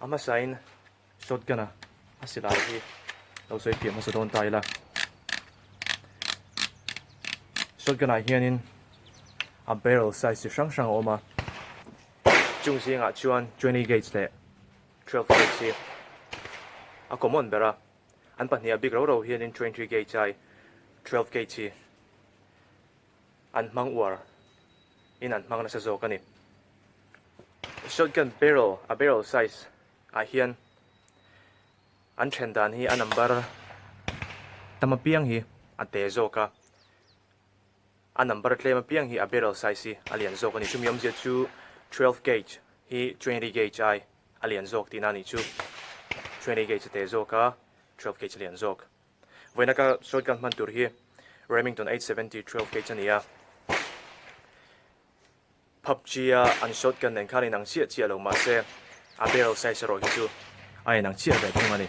A hmasain shotgun a a si lai hi lo sawi piah hmasa dawn ta ila. Shotgun ah hianin a barrel size chi hrang hrang a awm a. Chung zingah chuan 20 gauge leh 12 gauge hi a common ber a. An pahnih a big ro ro hianin 20 gauge ai 12 gauge hi. an hmang uar in an hmang nasa zawk a ni. Shotgun barrel a barrel size ah hian an then dan hi a number tam apiang hi a te zawk a, a number tlem apiang hi a barrel size hi a lian zawk a ni. Chumi awmzia chu twelve gauge hi twenty gauge ai a lian zawk tihna a nih chu. Twenty gauge a te zawk a, twelve gauge a lian zawk. Vawiina ka shotgun hman tur hi Remington eight seventy twelve gauge a ni a, PUBG-a an shotgun nen khan a inang chiah chiah lo mahse a barrel size erawh hi chu a inang chiah ve thung a ni.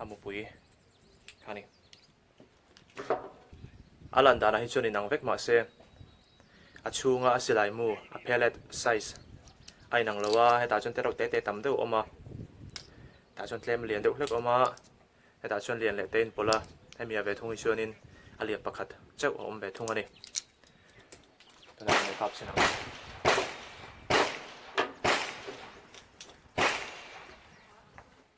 A mupui a ni. A lan danah hi chuan inang vek mah se a chhunga a silai mu a pellet size a inang lo a, hetah chuan tereuh te te tam deuh a awm a, tah chuan tlem lian deuh hlek a awm a, hetah chuan lian leh te a inpawlh a, hemi a ve thung hi chuanin a lian pakhat chauh a awm ve thung a ni. Tuna kan lo kap chin ang.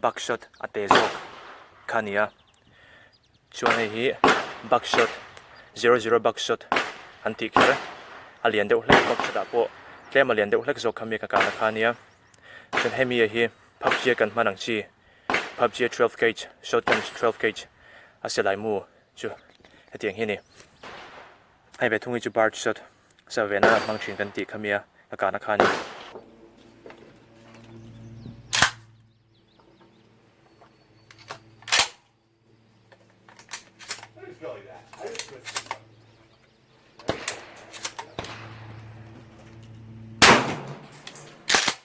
buckshot a teh zawk kha a ni a, chuan hei hi buckshot zero zero buckshot an tih kher a, a lian deuh hlek buckshot ah pawh tlem a lian deuh hlek zawk kha mi ka kal a kha a nia, chuan hemi a hi pubg a kan hman ang chi pubg twelve gauge shotgun twelve gauge a se lai mu chu hetiang hi a ni. Hei ve thung hi chu bar chi sawt sa ve nan an hmang thin kan tih kha mi a, ka kahna kha a ni.